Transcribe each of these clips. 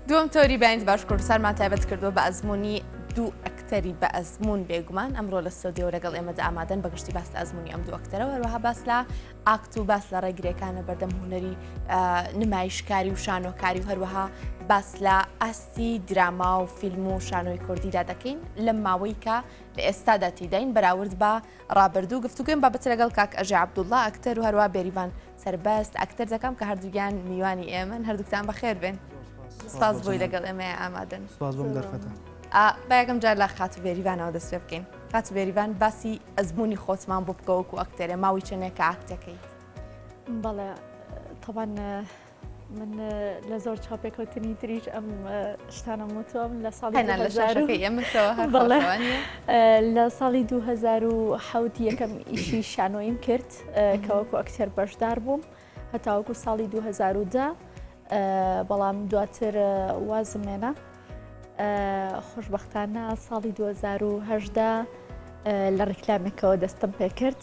دووەم تۆری بەند باش کوردستانمان تایبەت کردووە بە ئەزمموی دوو ئەکتەری بە ئەزممون بێگومان ئەمڕۆ لە سۆدیەوە لەگەڵ ئێمەدا ئامادەن بەگشتی باس ئەزمموی ئەم دوو ئەکتەرەوە هەروەها باس لە ئاکت و باس لە ڕێگرەکانە بەردەم هوەری نمایشکاری و شانۆکاری و هەروەها باس لە ئاستی دراما و فیلم و شانۆی کوردیدا دەکەین لەم ماوەیکە لە ئێستادا تیداین بەراورد بە ڕابردوو گفتوگۆیم بابەتە لەگەڵ کاک ئەژێ عەبدوڵڵا ئەکتەر و هەروە بێریڤان سەربەست ئەکتەر دەکەم کە هەردووکیان میوانی ئێمەن هەردووکتان بەخێر بێن سپاس بۆی لەگەڵ ئێمە ئامادەن سپاس بۆم دەرفەتە بایەکەم جار لە خاتو بێریڤانەوە دەست پێ بکەین خاتو بێریڤان باسی ئەزمموی خۆتمان بۆ بکەوەکو ئەکتەرێ ماوەی چەندێک کە ئاکتەکەیت بەڵێ طبعا من لە زۆر چاپێکەوتنی تریش ئەم شتانم وتوم لە ساڵی لە ساڵی 2010 یەکەم ئیشی شانۆیم کرد کەوەکو ئەکتەر بەشدار بووم هەتاوەکو ساڵی 2010 بەڵام دواتر وازمێنە خۆشببختانە ساڵی 2010 لە ڕیکلامێکەوە دەستم پێکرد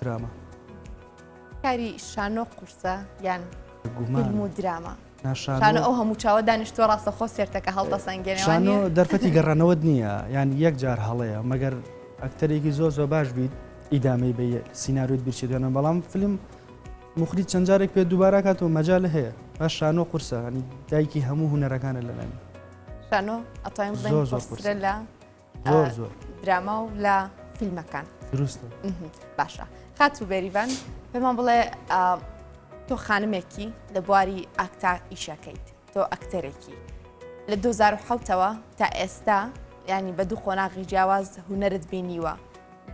دراما. کاری شانۆ قورسە یان فیلم و دراما شانۆ ئەو هەموو چاوە دانیشتوە ڕاستەخۆ سێرتەکە هەڵتە سەنگێنەوە دەرفەتی گەڕانەوەت نییە یان یەک جار هەڵەیە مەگەر ئەکتەرێکی زۆر زۆر باش بیت ئیدامەی بە سینناروت بیرچێت دوێنە بەڵام فیلم مخری چەند جارێک پێ دووبارە کاتەوە مەجا لە هەیە باش شانۆ قورسە هەنی دایکی هەموو هوەرەکانە لەلای شانۆ ئەتایم زۆر زۆر لە زۆر زۆر دراما و لە فیلمەکان دروستە باشە خات و بێریڤان پێمان بڵێ تۆ خانمێکی لە بواری ئاکتا ئیشەکەیت تۆ ئەکتەرێکی لە 2010ەوە تا ئێستا ینی بە دوو قۆناغی جیاواز هوەرت بینیوە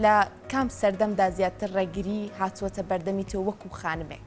لە کام سەردەمدا زیاتر ڕێگری هاتووەتە بەردەمی تۆ وەکو خانمێک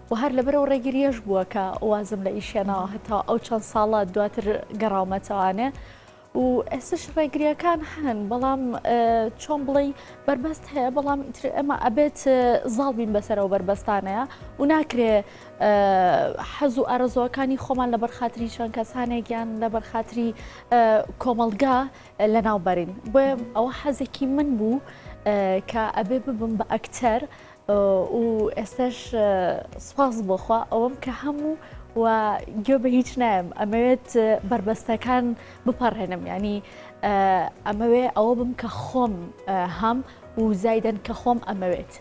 و هەر لەبەر ئەو ڕێگرییەش بووە کە وازم لە ئیش هێناوە هەتا ئەو چەند ساڵە دواتر گەڕاومەتەوانێ و ئێستش ڕێگریەکان هەن بەڵام چۆن بڵێی بەربەست هەیە بەڵام ئیتر ئەمە ئەبێت زاڵ بین بەسەرەوە بەربەستانەیە و ناکرێ حەز و ئارەزۆەکانی خۆمان لە بەرخاتری چەند کەسانێکیان لە بەرخاتری کۆمەلگا لە ناوبەرین بۆ ئەوە حەزێکی من بوو کە ئەبێ ببم بە ئەکتەر و ئێستاش سوپاس بۆ خوا ئەوەم کە هەموو و گوێ بە هیچ نایم ئەمەوێت بربەستەکان بپەڕێنم ینی ئەمەوێ ئەوە بم کە خۆم هەم و زایدەن کە خۆم ئەمەوێت.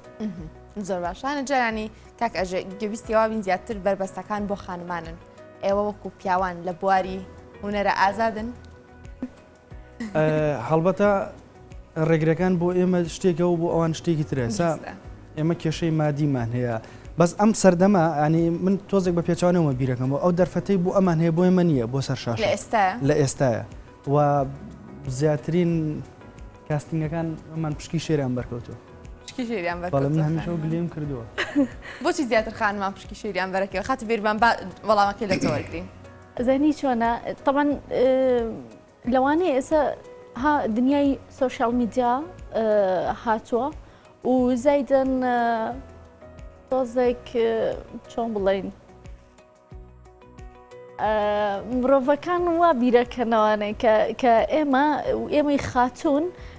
زۆر باشانە جارانی کاک ئەژێ گەویستیواوین زیاتر بربەستەکان بۆ خانمانن ئێوە وەکو پیاوان لە بواری هوەرە ئازادن هەڵبەتە ڕێگرەکان بۆ ئێمە شتێکە و بۆ ئەوان شتێکی ترە سا ئێمە کێشەی مادیمان هەیە بەس ئەم سەردەما ئەنی من تۆزێک بە پێچوانەوە بیرەکەم و ئەو دەرفەتی بۆ ئەمان هەیە بۆی من نییە بۆ سەر شاش ئێستا لە ئێستاە و زیاترین کاستنگەکان ئەمان پشکی شێریان بەرکەوتو گلیم کردووە بۆچی زیاتر خانمان پشکی شێریان بەرەکەوە خاتی بێرمان وەڵامەکەی لە تۆرگین ئەزانی چۆنە تەبەن لەوانەیە ئێستا ها دنیای سوۆشال میدیا هاتووە و زایدن تۆزێک چۆن بڵین مرۆڤەکان وا بیرەکەنەوانێک کە ئێمە ئێمەی خاتوون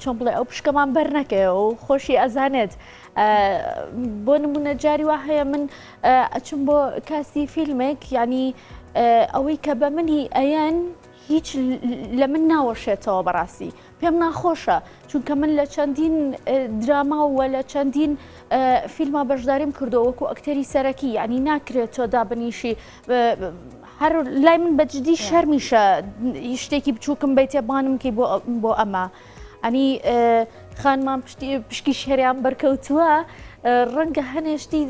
چۆن بڵێ ئەو پشکەمان بەر نەکەێ و خۆشی ئەزانێت بۆ نمونە جاری وا هەیە من ئەچم بۆ کاسی فیلمێک ینی ئەوەی کە بە منی ئەیەن هیچ لە من ناوەشێتەوە بەڕاستی پێم ناخۆشە چونکە من لە چەندین دراماوە لە چەندین فیلما بەشداریم کردو وەکو ئەکتەری سەرەکی ینی ناکرێت تۆ دابنیشی هەر لای من بەجددی شەرمیشە شتێکی بچووکم بیتێ بانم کەی بۆ ئەمە ئەنی خانمان پشکی شەریان بەرکەوتووە ڕەنگە هەنێشتی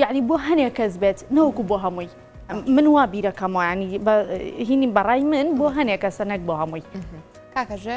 یعنی بۆ هەنێ کەس بێت نەوەکو بۆ هەمووی من وا بیرەکەمەوەیانی هینی بەڕای من بۆ هەنێ کەسە نەک بۆ هەمووی کاکەژێ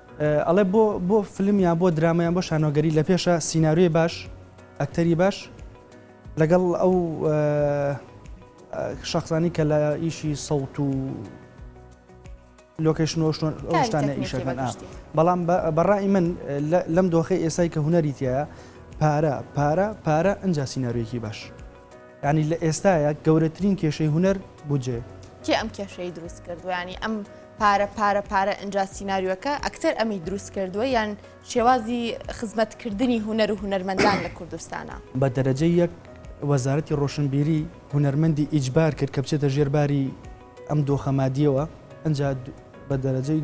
ئەڵێ بۆ بۆ فلم یان بۆ درامە یان بۆ شانۆگەری لە پێشە سیناریۆی باش ئەکتەری باش لەگەڵ ئەو شخصانی کە لە ئیشی سەوت و لۆکەشنۆشتانە ئیشەکان بەڵام بەڕای من لەم دۆخی ئێسای کە هوەری تایە پارە پارە پارە ئەجا سیناروێکی باش یانی لە ئێستایا گەورەترین کێشەی هونەر بودجەیە. کێ ئەم کێشەی دروست کردوە یانی ئەم پارە پارە پارە ئەنجا سیناریۆکە ئەکتەر ئەمی دروست کردوە یان شێوازی خزمەت کردنی هونەر و هونەرمەندان لە کوردستانە. بە دەرەجەی یەک وەزارەتی ڕۆشنبیری هونەرمەندی ئیجبار کرد کە بچێتە ژێر باری ئەم دۆخە مادیەوە ئەنجا بە دەرەجەی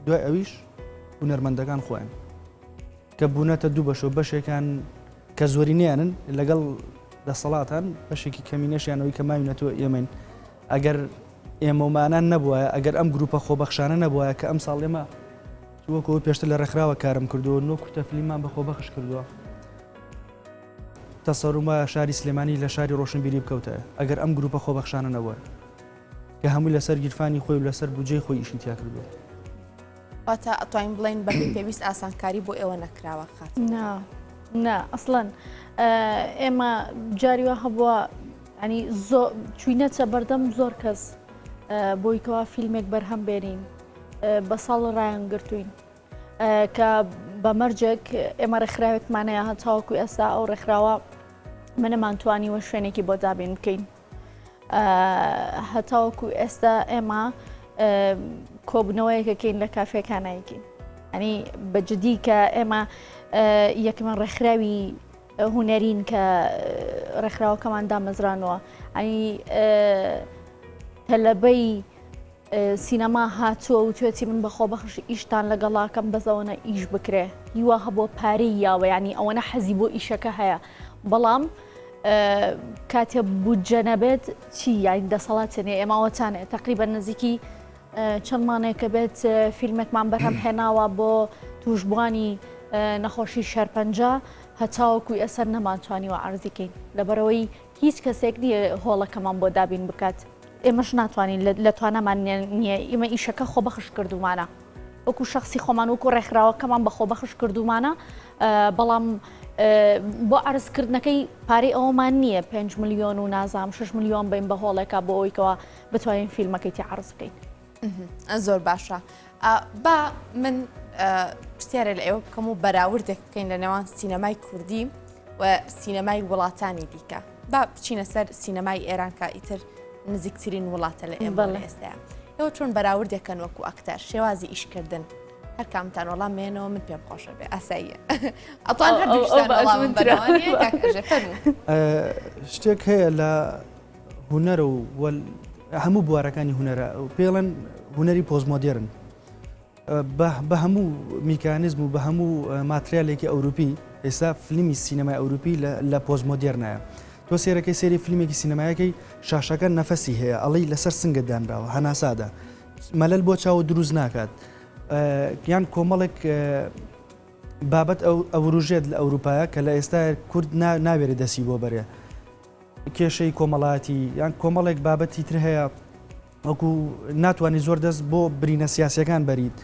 دوای ئەویش هونەرمەندەکان خۆیان. کە بوونەتە دوو بەشەوە بەشێکان کە زۆرینیانن لەگەڵ دەسەڵاتان بەشێکی کەمینەشیانەوەی کە ماوینەتەوە ئێمەین ئەگەر ئێمەمانان نەبووە ئەگەر ئەم گروپە خۆبەخشانە نەبووە کە ئەم ساڵ ئێمە وەکەوە پێشتر لە ڕێکخراوە کارم کردووە نۆ کورتە فلیمان بە خۆبەخش کردووە تەسەرومە شاری سلێمانی لە شاری ڕۆشنبیری بکەوتە ئەگەر ئەم گروپە خۆبەخشانە نەبووە کە هەموو لەسەر گیرفانی خۆی و لەسەر بجێ خۆی ئیشی تیا کردووە واتە ئەتوانین بڵێن بە پێویست ئاسانکاری بۆ ئێوە نەکراوە خات نا نا ئەسڵەن ئێمە جاری وە هەبووە ئەنی زۆ چوینەچە بەردەم زۆر کەس بۆی کەوا فیلمێک بەرهەم بێنین بە ساڵ ڕایان گرتوین کە بە مەرجێک ئێمە ڕێکخراوێکمانەیە هەتاوەکو ئێستا ئەو ڕێکخراوە منەمانتوانی وە شوێنێکی بۆ دابین بکەین هەتاوەکو ئێستا ئێمە کۆبنەوەیەکەکەین لە کافێکانایکین ئەنی بەجددی کە ئێمە یەکمە ڕێکخراوی هوەرین کە ڕێکخراوەکەمان دامەزرانەوە ئەنی تەلەبەی سینەما هاتووە وتوێتی من بە خۆبەخش ئیشتان لەگەڵاکەم بەس ئەوەنە ئیش بکرێ هی وا هەبووە پارەی یاوە یانی ئەوەنە حەزی بۆ ئیشەکە هەیە بەڵام کاتێ بودجە نەبێت چی یاین دەسەڵات تێنێ ئێماوەتانێ تقریبا نزیکی چەند مانێکە بێت فیلمێکمان بەرهەم هێناوە بۆ توشببوانی نەخۆشی شەرپەنجە هەتاوەکوی ئەسەر نەمانتوانیوە ئارزیکەین لەبەرەوەی هیچ کەسێک نییە هۆڵەکەمان بۆ دابین بکات، ئێمەش ناتوانین لە توانامان نییە، ئیمە ئیشەکە خۆبەخش کردوومانە، وەکو شەخسی خۆمان وەکو ڕێکخراوەکەمان بە خۆبەخش کردوومانە، بەڵام بۆ عەرزکردنەکەی پارەی ئەوەمان نییە پێنج ملیۆن و نازانم شەش ملیۆن بەین بە هۆڵێکا بۆ ئەوەی کەوا بتوانین فیلمەکەی تێ عەرز بکەین. زۆر باشە با من پرسیارە لە ئێوە بکەم و بەراوردێک بکەین لە نێوان سینەمای کوردی و سینەمای وڵاتانی دیکە با بچینە سەر سینەمای ئێران کە ئیتر نزیکترین وڵاتە لە ئێمە لە ئێستاە ئەوە چۆن بەراوردێکەن وەکو ئەکتەر شێوازی ئیشکردن هەرکامتان وەڵام مێنەوە من پێم خۆشە بێ ئاساییە ئەتوان هەر شتێک هەیە لە هونەر و هەموو بوارەکانی هونەرە پێڵەن هونەری پۆزمۆدێرن بە هەموو میکانزم و بە هەموو ماتریالێکی ئەوروپی ئێستا فلیمی سینەمای ئەوروپی لە پۆزمۆدێرنایە تۆ سێرەکەی سێری فیلمێکی سینەمایەکەی شاشەکە نەفەسی هەیە ئەڵی لەسەر سنگە دانراوە هەناسادا مەلل بۆ چاوە دروست ناکات یان کۆمەڵێک بابەت ئەوروژێت لە ئەوروپایە کە لە ئێستا کورد ناوێرە دەسی بۆ بەرێ کێشەی کۆمەڵایەتی یان کۆمەڵێک بابەتی تر هەیە وەکو ناتوانانی زۆر دەست بۆ برینە سیاسەکان بەریت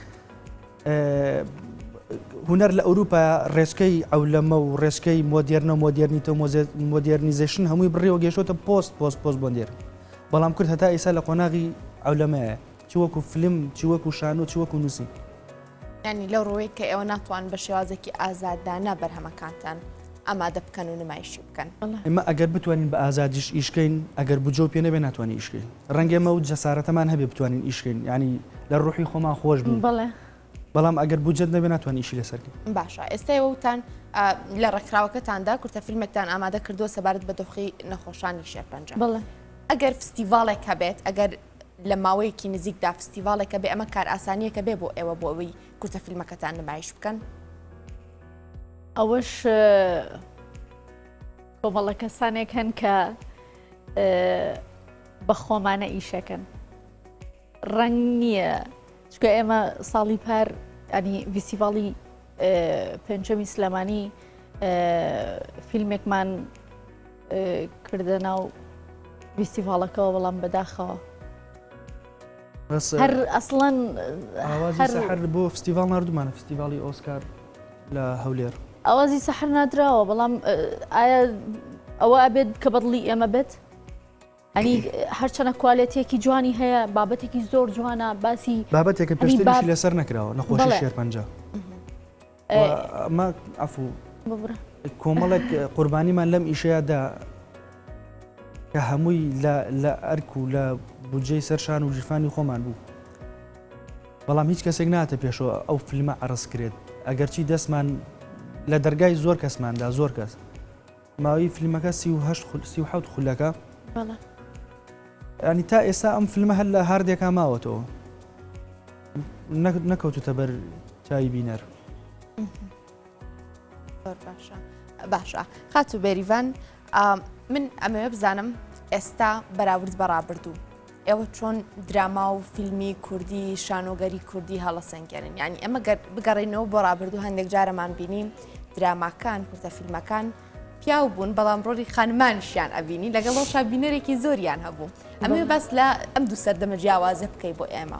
هوەر لە ئەوروپا ڕێچکەی ئەو لەمە و ڕێچکەی مۆدیێرنە و مۆدیێرنیتە و مۆدیێرنیزیشن هەمووی بڕێەوە گەشتە پۆست پۆست پۆست بۆندێر بەڵام کرد هەتا ئیسا لە قۆناغی ئەو لەمەیە چ وەکو فلم چ وەکو شانۆ چ وەکو نووسی یانی لەو ڕوەیە کە ئێوە ناتوان بە شێوازێکی ئازادانە بەرهەمەکانتان ئامادە بکەن و نمایشی بکەن ئمە ئەگەر بتوانین بە ئازادیش ئیشکەین ئەگەر بجۆ پێ نەبێ ناتوانانی ئیشکەین ڕەنگێ مە و جەسارەتەمان هەبێ بتوانین ئیشکەین ینی لە ڕوحی خۆمان خۆش بوو بڵێ بەڵام ئەگەر بجد نەبێ ناتوان ئیشی لەسەرکە باشە ئێستای وتان لە ڕێکخراوەکەتاندا کورتە فیلمێکتان ئامادە کردووە سەبارەت بە دۆخی نەخۆشانی شێرپەنجە بڵێ ئەگەر فستیڤالێک هەبێت ئەگەر لە ماوەیەکی نزیکدا فستیڤاڵێکە بێ ئەمە کارئاسانییەکە بێ بۆ ئێوە بۆ ئەوەی کورتە فیلمەکەتان نمایش بکەن؟ ئەوەش کۆمەڵە کەسانێک هەن کە بە خۆمانە ئیشەکەن ڕەنگ نییە چکە ئێمە ساڵی پار ئەنی ڤیسیڤاڵی پێنجەمی سلێمانی فیلمێکمان کردە ناو ویستیڤاڵەکەەوە بەڵام بەداخەوە هەر ئەسڵەن هەر بۆ فستیڤال نردمانە فستیڤالی ئۆسکار لە هەولێر ئاوازی سەحر نادراوە بەڵام ئایا ئەوە ئەبێت کە بەدڵی ئێمە بێت ئەنی هەرچەنە کوالێتێکی جوانی هەیە بابەتێکی زۆر جوانە باسی بابەتێکە پێشتری لەسەر نکراوە نەخۆشی شێرپەنجە کۆمەڵێک قوربانیمان لەم ئیشەیەدا کە هەمووی لە ئەرک و لە بودجەی سەرشان و ژیفانی خۆمان بوو بەڵام هیچ کەسێک ناتە پێشەوە ئەو فیلمە عرس کرێت ئەگەرچی دەستمان لە دەرگای زۆر کەسماندا زۆر کەس ماوەی فلمەکە سی و هەشت خول سی و حەوت خولەکە بەڵێ ینی تا ئێستا ئەم فلمە هەر لە هاردێکا ماوەتەوە نەکەوتوتە بەر چاوی بینەر باشە باشە خاتو بێریڤان من ئەمەوێ بزانم ئێستا بەراورد بەڕابردوو ئێوە چۆن دراما و فیلمی کوردی شانۆگەری کوردی هەڵەسەنگێنن یعنی ئەمە بگەڕینەوە بۆ ڕابردوو هەندێک جارەمان بینی دراماکان کورتە فیلمەکان پیاو بوون بەڵام ڕۆلی خانمانشیان ئەبینی لەگەڵ ڕۆشا بینەرێکی زۆریان هەبوو ئەمێ بەس لە ئەم دوو سەردەمە جیاوازە بکەی بۆ ئێمە.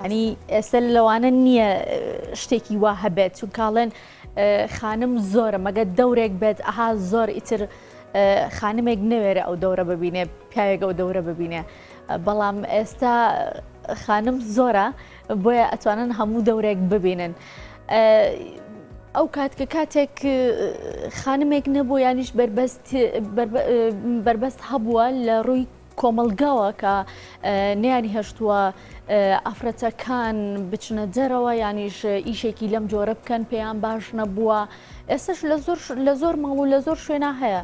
یانی ئێستا لەوانە نییە شتێکی وا هەبێت چونکاڵێن خانم زۆرە مەگە دەورێک بێت ئەها زۆر ئیتر خانمێک نەوێرە ئەو دەورە ببینێ پیاوێک ئەو دەورە ببینێ بەڵام ئێستا خانم زۆرە بۆیە ئەتوانن هەموو دەورێک ببینن. ئەو کات کە کاتێک خانمێک نەبوو یانیش بەربەست هەبووە لە ڕووی کۆمەڵگاوە کە نیانی هەشتووە ئافرەتەکان بچنە دەرەوە یانیش ئیشێکی لەم جۆرە بکەن پێیان باش نەبووە ئێستش لە زۆر لە زۆر ماڵ و لە زۆر شوێنە هەیە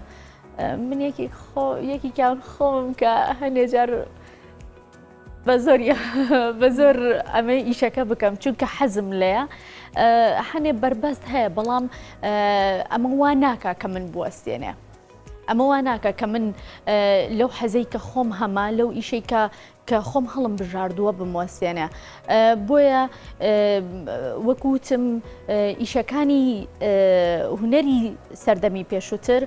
من یەکی خۆ یەکیان خۆم کە هەندێک جار بە زۆر بە زۆر ئەمەی ئیشەکە بکەم چونکە حەزم لەیە هەنێ بەربەست هەیە بەڵام ئەمە وا ناکە کە من بوەستێنێ ئەمە وا ناکا کە من لەو حەزەی کە خۆم هەمە لەو ئیشەی کە کە خۆم هەڵم بژاردووە بموەستێنێ بۆیە وەکوتم ئیشەکانی هوەری سەردەمی پێشووتر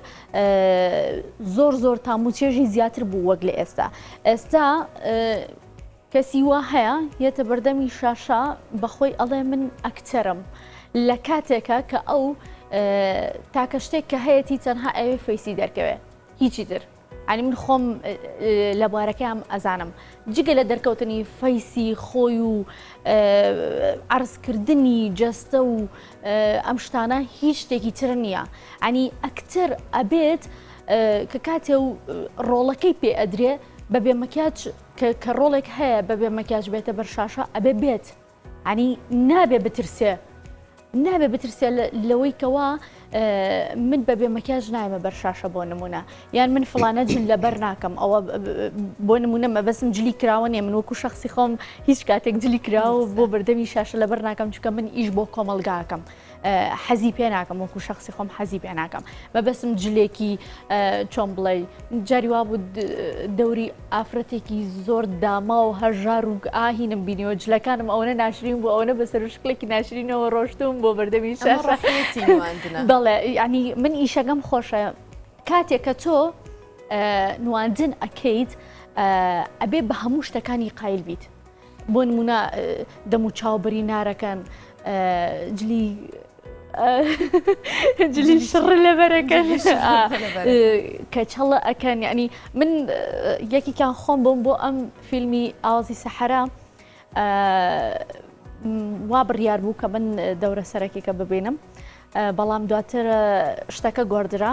زۆر زۆر تاموچێژی زیاتر بوو وەک لە ئێستا ئێستا کەسی وا هەیە یەتە بەردەمی شاشە بەخۆی ئەڵێ من ئەکتەرم لە کاتێکە کە ئەو تاکە شتێک کە هەیەی تەنها ئەوێ فەیسی دەرکەوێ هیچی تر ئەنی من خۆم لە بارەکەم ئەزانم جگە لە دەرکەوتنی فەیسی خۆی و عرضکردنی جەستە و ئەم شتانە هیچ شتێکی تر نییە ئەنی ئەکتەر ئەبێت کە کاتێ و ڕۆڵەکەی پێ ئەدرێ بە بێمەکیاج کە کە ڕۆڵێک هەیە بەبێ مەکیاج بێتە بەر شاشە ئەبێ بێت ینی نابێ بترسێ نابێ بترسێ لەوەی کەوا من بە بێ مەکیاج نایمە بەر شاشە بۆ نمونە یان من فلانە جل لەبەر ناکەم ئەوە بۆ نمونە مەبەسم جلی کراوە نیە من وەکو شخصی خۆم هیچ کاتێک جلی کراوە بۆ بەردەمی شاشە لەبەر ناکەم چکە من ئیش بۆ کۆمەلگاکەم حەزی پێ ناکەم وەکو شخصی خۆم حەزی پێ ناکەم مەبەسم جلێکی چۆن بڵێ جاری وا بوو دەوری ئافرەتێکی زۆر داما و هەژار و ئاهینم بینیەوە جلەکانم ئەوەنە ناشرین بوو ئەوەنە بە سەرشکلێکی ناشرینەوە ڕۆشتوم بۆ بەردەمی شەڕەتی بەڵێ ینی من ئیشەکەم خۆشە کاتێک کە تۆ نواندن ئەکەیت ئەبێ بە هەموو شتەکانی قایل بیت بۆ نموونە دەم و چاو بری نارەکەن جلی جلی شڕ لەبەرەکەن کەچەڵە ئەکەن یعنی من یەکێکیان خۆم بۆم بۆ ئەم فیلمی ئاوازی سەحرا وا بڕیار بوو کە من دەورە سەرەکێکە ببینم بەڵام دواتر شتەکە گۆدرا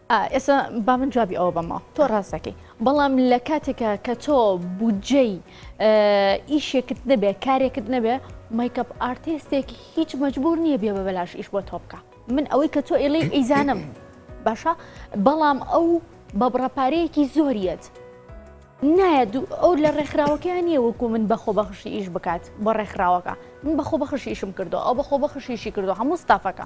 ئێستا با من جوابی ئەوە بەمەوە تۆ ڕاست دەکەی بەڵام لە کاتێکە کە تۆ بودجەی ئیشێکت نەبێ کارێکت نەبێ میکەپ ئارتێستێک هیچ مەجبور نییە بێ بە بەلاش ئیش بۆ تۆ بکە من ئەوەی کە تۆ ئێڵی ئیزانم باشە بەڵام ئەو بە بڕەپارەیەکی زۆریت نایەت ئەو لە ڕێکخراوەکەیان نیە وەکو من بەخۆ بەخشی ئیش بکات بۆ ڕێکخراوەکە من بەخۆ بەخشیشم کردو ئەو بەخۆ بەخشیشی کردو هەموو ستافەکە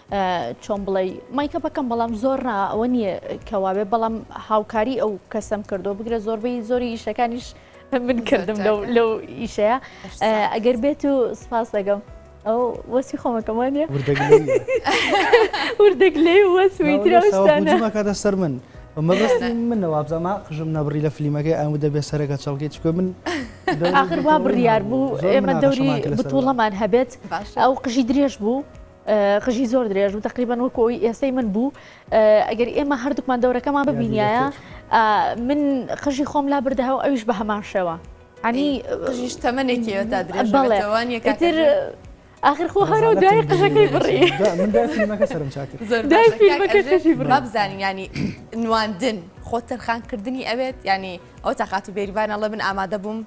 چۆن بڵێی مایکەپەکەم بەڵام زۆر ڕا ئەوە نییە کەواێ بەڵام هاوکاری ئەو کەسم کردو بگرە زۆربەی زۆری ئیشەکانیش من کردم لەو ئیشەیە ئەگەر بێت و سپاس دەگەم ئەو وەسی خۆمەکەمانە وردەگ لێ وەسویترەکاتە سەر من مەبست منە وابزانما قژم نەبڕی لە فلیمەکەی ئەم دەبێت سەرەکە چڵکی چکە من ئاخر وا بڕیار بوو ئێمە دەوری بتوڵەمان هەبێت ئەو قژی درێژ بوو قژی زۆر درێژ و تقریبان وەکو ئەوی ئێستەی من بوو ئەگەر ئێمە هەردووکمان دەورەکەمان ببینایە من قژی خۆم لا بردەها و ئەویش بە هەمان شێوە ئەنی قژیش تەمەێکی تا درێژەوانیەکەتر ئاخر خۆ هەرە دوای قژەکەی بڕی بزانین ینی نواندن خۆ تەرخانکردنی ئەوێت ینی ئەو تاقات و بێریبانەڵە من ئامادە بووم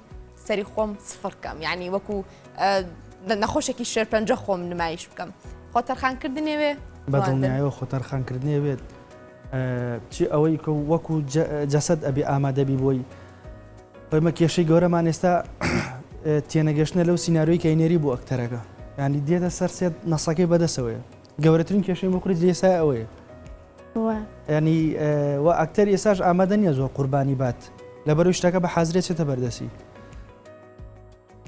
سەری خۆم سفڕکەم ینی وەکو نەخۆشێکی شێرپەنجە خۆم نمایش بکەم خۆ تەرخان کردنێ وێ بەدڵنیایەوە خۆ تەرخان کردنێ وێت چی ئەوەی کە وەکو جەسەد ئەبێ ئامادەبی بۆی خۆمە کێشەی گەورەمان ئێستا تێنەگەشتە لەو سینناروی کەینێری بۆ ئەکتەرەکە ینی دێتە سەر سێت نەسەکەی بەدەسەوەیە گەورەترین کێشەی مەخریت لێسا ئەوەیە ینی و ئەکتەر ئێساش ئامادە نیە زۆر قوربانی بات لەبەرو شتەکە بە حازرێتێتە بەردەسی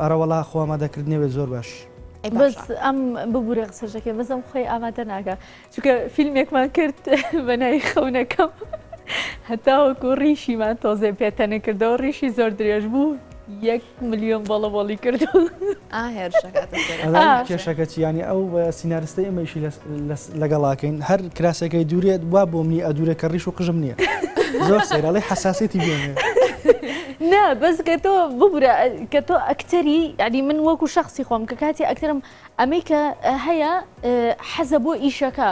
ئەرەوەڵا خۆ ئامادە کردنێ وێ زۆر باش. بەس ئەم ببورە قسەشەکەی بەس ئەم خۆی ئامادە ناکە چونکە فیلمێکمان کرد بە ناوی خەونەکەم هەتاوەکو ڕیشیمان تۆزێ پێتەنە کردەوە ڕیشی زۆر درێژ بوو یەک ملیۆن بەڵە بەڵی کردو کێشەکە چیانی ئەو سینارستە ئێمەیشی لەگەڵاکەین هەر کراسەکەی دوورێت وا بۆ منی ئەدورێت کە ڕیش و قژم نییە زۆر سەیرڵی حساسێتی بێنێ نا بەس کە تۆ ببورە کە تۆ ئەکتەری یعنی من وەکو شخصی خۆم کە کاتی ئەکتەرم ئەمەی کە هەیە حەزە بۆ ئیشەکە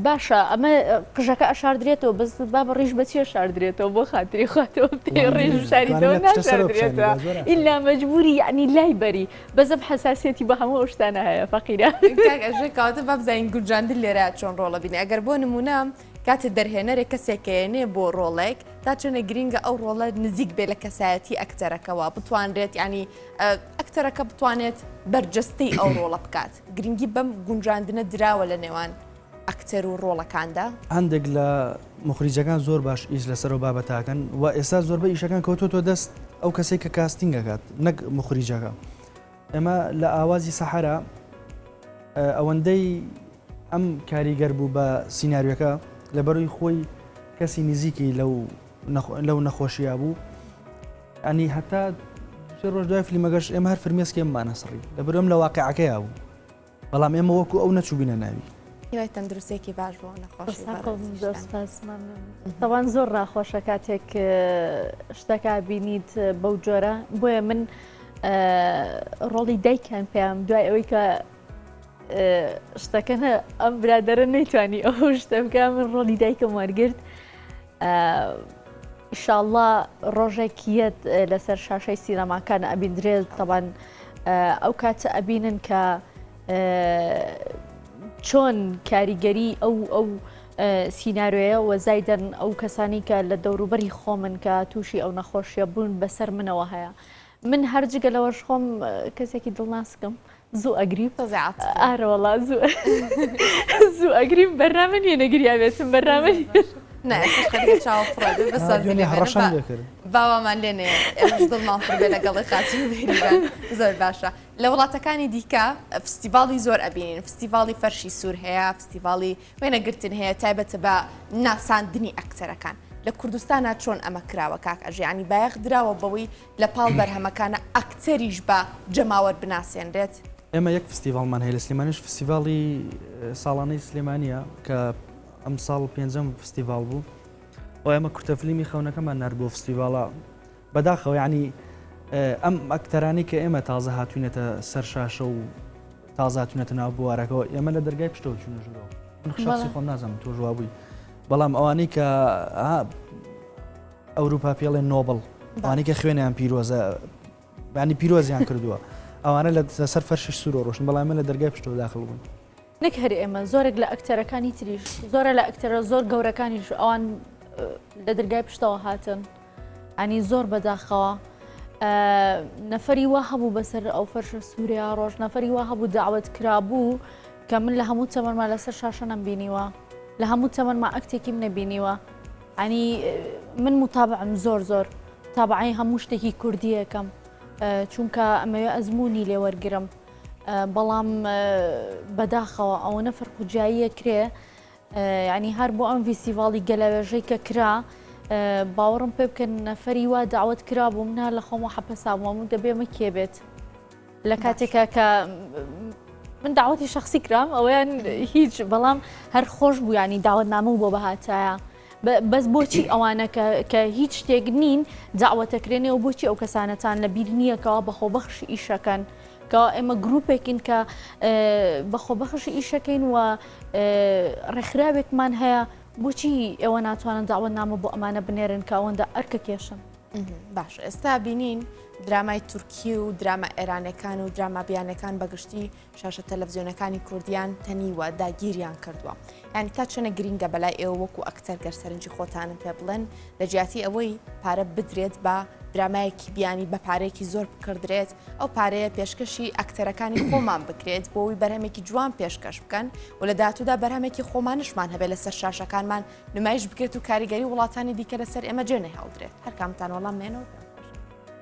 باشە ئەمە قژەکە ئەشاردرێتەوە بەس با بە ڕیش بەچیە شاردرێتەوە بۆ خاتری خواتەوە ڕێژ شاریتەوە ناشاردرێتەوە ئللا مەجبوری یعنی لای بەری بەزەم حساسەتی بە هەموو ئەوشتانە هەیە فەقیرە کاکە ژێ کاتە بابزین گونجاندن لێرە چۆن ڕۆڵە بینێ ئەگەر بۆ نمونە کاتێ دەرهێنەرێک کەسێک ئەیەنێ بۆ ڕۆڵێک تا چەنێ گرینگە ئەو ڕۆڵە نزیک بێ لە کەسایەتی ئەکتەرەکەەوە بتوانرێت ینی ئەکتەرەکە بتوانێت بەرجەستەی ئەو ڕۆڵە بکات گرنگی بەم گونجاندنە دراوە لە نێوان ئەکتەر و ڕۆڵەکاندا هەندێک لە مخریجەکان زۆر باش ئیش لەسەر و بابەتاکەن و ئێستا زۆربە ئیشەکان کەوتۆتۆ دەست ئەو کەسێک کە کاستنگەکات نەک مخریجەکە ئێمە لە ئاوازی سەحەرا ئەوەندەی ئەم کاریگەر بوو بە سینناریەکە لە بەروی خۆی کەسی نزیکی لەو لەو نەخۆشییا بوو ئەنی هەتا ڕۆژ دوای فلیمەگەش ئێمە هەر فرمێسکێمانە سڕی لە برم لە واقعەکەی بوو بەڵام ئێمە وەکو ئەو نەچووبینە ناوی. هیوای تەندروستێکی باش بۆ نەخۆشی تەوان زۆر ڕاخۆشە کاتێک شتەکە بینیت بەو جۆرە بۆیە من ڕۆڵی دایکیان پێیان دوای ئەوەی کە شتەکەە ئەم برادرە نەیتوانی ئەو شتە بکە من ڕۆڵی دایکم وەرگرت ئیشاڵڵا ڕۆژێک یەت لەسەر شاشەی سینەماکان ئەبین درێل تەبان ئەو کاتە ئەبینن کە چۆن کاریگەری ئەو ئەو سینناروێە وەزایدەن ئەو کەسانی کە لە دەوروبەری خۆمن کە تووشی ئەو نەخۆشیە بوون بەسەر منەوە هەیە من هەر جگە لەوەش خۆم کەسێکی دڵناسکم زوو ئەگریم ئارەوەڵا زوو زوو ئەگریم بەرنامە نیە نەگریاوێتم بەرنامە باوامان لێ نێ دڵمان پڕێ لەگەڵی خاچی زۆر باشە لە وڵاتەکانی دیکە فستیڤاڵی زۆر ئەبینین فستیڤاڵی فەرشی سوور هەیە فستیڤاڵی وێنەگرتن هەیە تایبەتە بە ناساندنی ئەکتەرەکان لە کوردستانا چۆن ئەمە کراوە کاک ئەژێ ینی بایەخ دراوە بەوەی لە پاڵ بەرهەمەکانە ئەکتەریش بە جەماوەر بناسێنرێت؟ ئێمە یەک فستیڤاڵمان هەیە لە سلێمانیش فستیڤاڵی ساڵانەی سلێمانیە کە ئەمساڵ پێنجەم فستیڤاڵ بوو و ئێمە کورتەفلیمی خەونەکەمان نارد بۆ فستیڤاڵە بەداخەوە یەعنی ئەم ئەکتەرانەی کە ئێمە تازە هاتوینەتە سەر شاشە و تازە هاتوونەتە ناو بوارەکەەوە ئێمە لە دەرگای پشتەوە چوونە ژورەوە من خشاسی خۆم نازانم تۆ ژوابووی بەڵام ئەوانەی کە ئەوروپا پێڵێ نۆبڵ ئەوانەی کە خوێنیان پیرۆزە بانی پیرۆزیان کردووە ئەوانە لە سەر فەرشی سوور ڕۆشن بەڵام من لە دەرگای پشتەوە داخل بوون نەک هەر ئێمە زۆرێک لە ئەکتەرەکانی تریش زۆرە لە ئەکتەرە زۆر گەورەکانیش ئەوان لە درگای پشتەوە هاتن ئەنی زۆر بەداخەوە نەفری وا هەبوو بەسەر ئەو فەرشە سووریا ڕۆژ نەفری وا هەبوو داوت کرابوو کە من لە هەموو تەمەما لەسەر شاشە نەم بینیوە لە هەموو تەمەما ئەکتێکیم نەبینیوە ئەنی من متابعم زۆر زۆر تابعی هەموو شتێکی کوردیەکەم چونکە ئەمەوێ ئەزمموی لێوەرگرم بەڵام بەداخەوە ئەوەنە فەرق و جیاییە کرێ ینی هەر بۆ ئەم ڤیسیڤاڵی گەلەوێژەی کە کرا باوەڕم پێ بکەن نەفەری وا داوت کرا بوو منە لە خۆمە حەپەساوەم و دەبێمە کێ بێت لە کاتێکە کە من داوەتی شخصی کرام ئەویان هیچ بەڵام هەر خۆش بوو ینی داوت نامە بۆ بەهاتایە. بەس بۆچی ئەوانە کە کە هیچ شتێک نین داوەتەکرێنێ و بۆچی ئەو کەسانەتان لە بیر نییە کەوا بەخۆ بەخش ئیشەکەن کە ئێمە گرروپێکین کە بەخۆ بەخش ئیشەکەین و ڕێکخراوێکمان هەیە بۆچی ئێوە ناتوانن داوەت نامە بۆ ئەمانە بنێرن کە ئەوەندە ئەرکە کێشن باش ئێستا بینین درامای تورکی و درامە ئێرانەکان و درامابیانەکان بەگشتی شاشە تەلەفزیۆنەکانی کوردیان تەنیوە داگیریان کردووە یان تا چەنە گرینگە بەلای ئێوە وەکو ئەکتەر گەر سەرنجی خۆتانم پێ بڵێن لە جیاتی ئەوەی پارە بدرێت بە درامایەکی بیانی بە پارێکی زۆر بکردرێت ئەو پارەیە پێشکەشی ئەکتەرەکانی خۆمان بکرێت بۆی بەرهەمێکی جوان پێشکەش بکەن و لە دااتوودا بەرهەمێکی خۆمانشمان هەبێت لەسەر شاشەکانمان نمایش بکرێت و کاریگەری وڵاتانی دیکە لەسەر ئێمە جێ نەهێڵدرێت هەرکامتان وەڵام مێنەوە.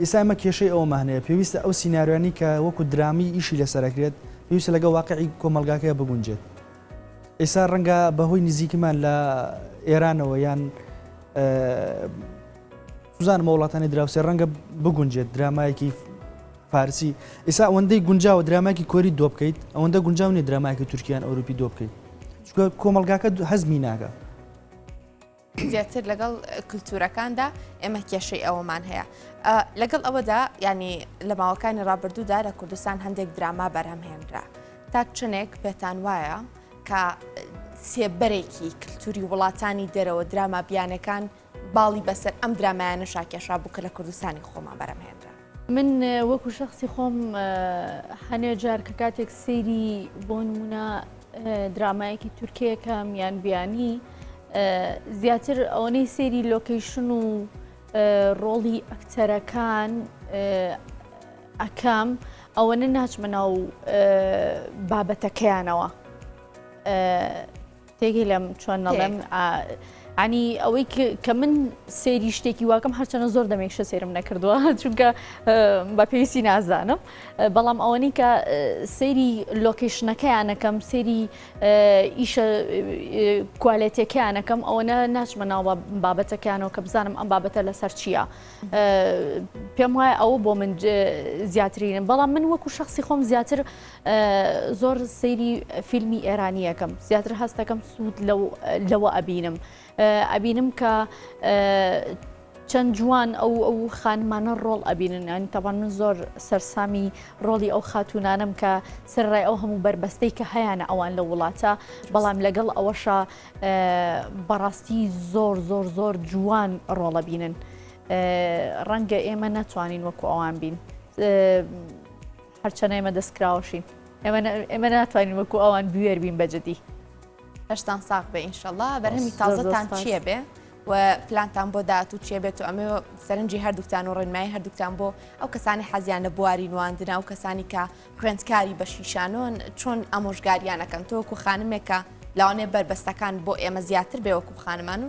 ئیستا ئێمە کێشەی ئەوەمان هەیە، پێویستە ئەو سیناریۆیانەی کە وەکو درامی ئیشی لەسەر ئەکرێت، پێویستە لەگەڵ واقعی کۆمەڵگاکەیا بگونجێت. ئێستا ڕەنگە بەهۆی نزیکیمان لە ئێرانەوە یان سوزانم بە وڵاتانی دراوسێ ڕەنگە بگونجێت درامایەکی فارسی ئێسا ئەوەندەی گونجاوە دراماکی کۆری دۆ بکەیت ئەوەندە گونجاو نیە دراماکی تورکیان ئەوروپی دۆ بکەیت چکە کۆمەلگاکە هەزمی ناگە زیاتر لەگەڵ کللتورەکاندا ئێمە کێشەی ئەوەمان هەیە لەگەڵ ئەوەدا ینی لە ماوەکانی ڕابردوودا لە کوردستان هەندێک دراما بەرهەمهێنرا تاک چنێک پێتان وایە کە سێبەرێکی کللتوری وڵاتانی دەرەوە دراما بیانەکان باڵی بەسەر ئەم درامایانە شاکێشا بوو کە لە کوردستانی خۆمان بەرەمهێنرا من وەکو شخصی خۆم هەنێ جار کە کاتێک سەیری بۆ نمونە درامایەکی تورکیەکەم یان بیانی زیاتر ئەوەی سەیری لۆکەیشن و ڕۆڵی ئەکتەرەکان ئەکەم ئەوەنە ناچمە ناو بابەتەکەیانەوە. تێگەیلم چۆن نەڵێم عنی ئەوەی کە من سێری شتێکی واکەم هەرچەنە زۆر دەمێکشە سێرم نەکردووە چونکە بە پێویستی نازانم بەڵام ئەوەنی کە سێری لۆکیشنەکەیانەکەم سێری ئیشە کوالێتەکەیانەکەم ئەوەنە ناچمە ناو بابەتەکەیانەوە کە بزانم ئەم بابەتە لەسەر چییە پێم وایە ئەوە بۆ من زیاترینم بەڵام من وەکو شخصی خۆم زیاتر زۆر سەیری فیلمی ئێرانی ئەکەم زیاتر هەستەکەم سوود لەوە ئەبینم ئەبینم کە چەند جوان ئەو ئەو خانمانە ڕۆڵ ئەبینن ئەنی تاوان من زۆر سەرسامی ڕۆڵی ئەو خاتونانم کە سەرڕای ئەو هەموو بربەستەی کە هەیەە ئەوان لە وڵاتە بەڵام لەگەڵ ئەوەشە بەڕاستی زۆر زۆر زۆر جوان ڕۆڵە بینن ڕەنگە ئێمە ناتوانین وەکو ئەوان بین. هەرچەنە ئێمە دەستکراوەشین ئێمە ناتوانین وەکو ئەوان بوێر بین بە جدی هەشتان ساق بە ئینشەڵا بەرهەمی تازەتان چییە بێ و پلانتان بۆ داات و چێ بێت و ئەمە سەرنجی هەردووکتان و ڕێنمای هەردووکتان بۆ ئەو کەسانی حەزیان لە بواری نواندنا و کەسانی کە خوێندکاری بە شیشانۆن چۆن ئامۆژگاریانەکەن تۆکو خانمێکە لاوانێ بەربەستەکان بۆ ئێمە زیاتر بێ وەکو خانمان و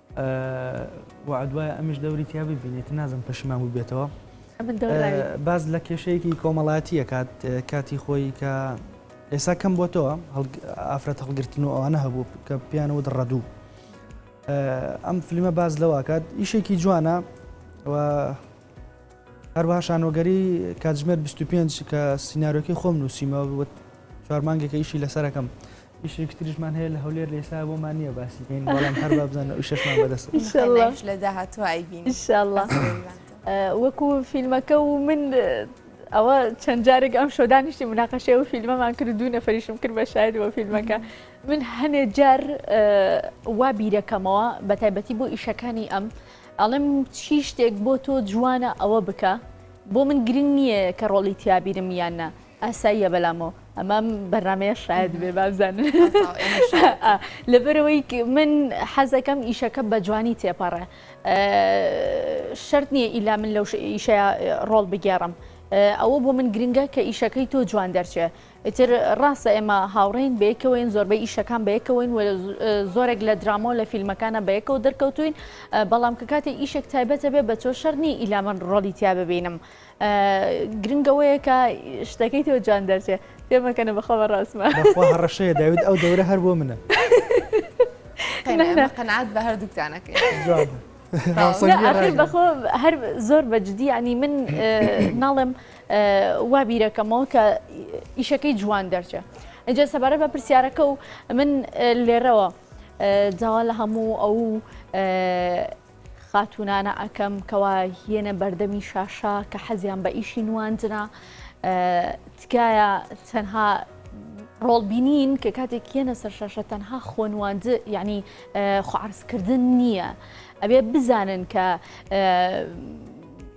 وەعد وایە ئەمیش دەوری تیا ببینێت تر نازم پەشیمان بووبێتەوە باز لە کێشەیەکی کۆمەڵاتیە کات کاتی خۆی کە ئێسا کەم بۆ تۆ ئافرەت هەڵگرتن و ئەوانە هەبوو کە پیانەوە ڕەدوو ئەم فیلمە باز لەواکات ئیشێکی جوانە و هەروەها شانۆگەری کاتژمێر بیست و پێنج کە سینارۆکی خۆم نووسیمە وت چوار مانگێکە ئیشی لەسەرەکەم ئیشێکی تریشمان هەیە لە هەولێر لە ئێستا بۆمان نییە باسی بکەین بەڵام هەر با بزانن ئەو شەشمان بەدەستە ان شاء الله. ئیش لە داهاتوو ئایبینین. ان شاء الله. وەکو فیلمەکە و من ئەوە چەند جارێک ئەم شۆ دانیشتی مناقەشەی ئەو فیلمەمان کرد دوو نەفریشم کرد بە شاید بۆ فیلمەکە من هەنێ جار وا بیرەکەمەوە بە تایبەتی بۆ ئیشەکانی ئەم ئەڵێم چی شتێک بۆ تۆ جوانە ئەوە بکە بۆ من گرنگ نییە کە ڕۆڵی تیابیرم یان نا ئاساییە بەلامەوە ئەمەم بەرنمەیە شاید بێ بابزان لەبەرەوەی من حەزەکەم ئیشەکە بە جوانی تێپەڕێ شرت نییە ئیلا من لەو ئیشە ڕۆڵ بگێڕم ئەوە بۆ من گرنگە کە ئیشەکەی تۆ جوان دەرچێ ئیتر ڕاستە ئێمە هاوڕێین بەیەکەوەین زۆربەی ئیشەکان بەیەکەوەین و زۆرێک لە درامۆ لە فیلمەکانە بەیەکەوە دەرکەوتوین بەڵام کە کاتی ئیشێک تایبەتە بێ بە تۆ شەرنی ئیلا من ڕۆڵی تیا ببینم گرنگەوەیە کە شتەکەی تۆ جوان دەرچێ پێمەکەنە بەخۆ بە ڕاستمە هەڕەشەیە داوید ئەو دەورە هەر بۆ منە قەنعات بە هەردووکتانەکە بەخۆ هەر زۆر بەجددی ینی من ناڵێم وا بیرەکەمەوە کە ئیشەکەی جوان دەرچێ ئەجا سەبارە بە پرسیارەکە و من لێرەوە جاوا لە هەموو ئەو خاتونانە ئەکەم کەوا هێنە بەردەمی شاشە کە حەزیان بە ئیشی نواندنە تکایە تەنها ڕۆڵ بینین کە کاتێک کێنە سەر شاشە تەنها خۆنواند یعنی خوارزکردن نییە ئەبێ بزانن کە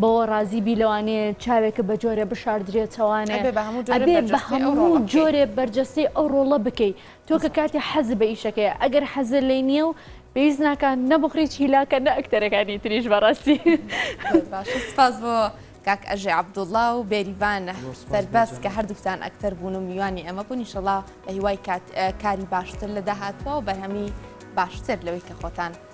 بەوە ڕازی بی لەوانێ چاوێکە بە جۆرێ بشاردرێتەوانێ ئەبێ بە هەموو جۆرێ ئەبێ بە بەرجەستەی ئەو هەموو ڕۆڵە بکەی. جۆرێ بەرجەستەی ئەو ڕۆڵە بکەی تۆ کە کاتێ حەز بە ئیشەکەیە ئەگەر حەزت لێی نییە و پێویست ناکا نە بخڕیت هیلاکە نە ئەکتەرەکانی تریش بەڕاستی زۆر باشە سپاس بۆ کاک ئەژێ عەبدوڵڵا و بێریڤان زۆر سوپاس بۆ سەربەست کە جەنابت. هەردووکتان ئەکتەر بوون و میوانی ئێمە بوون ئینشەڵا بە هیوای کات کاری باشتر لە داهاتووا و بەرهەمی باشتر لەوەی کە خۆتان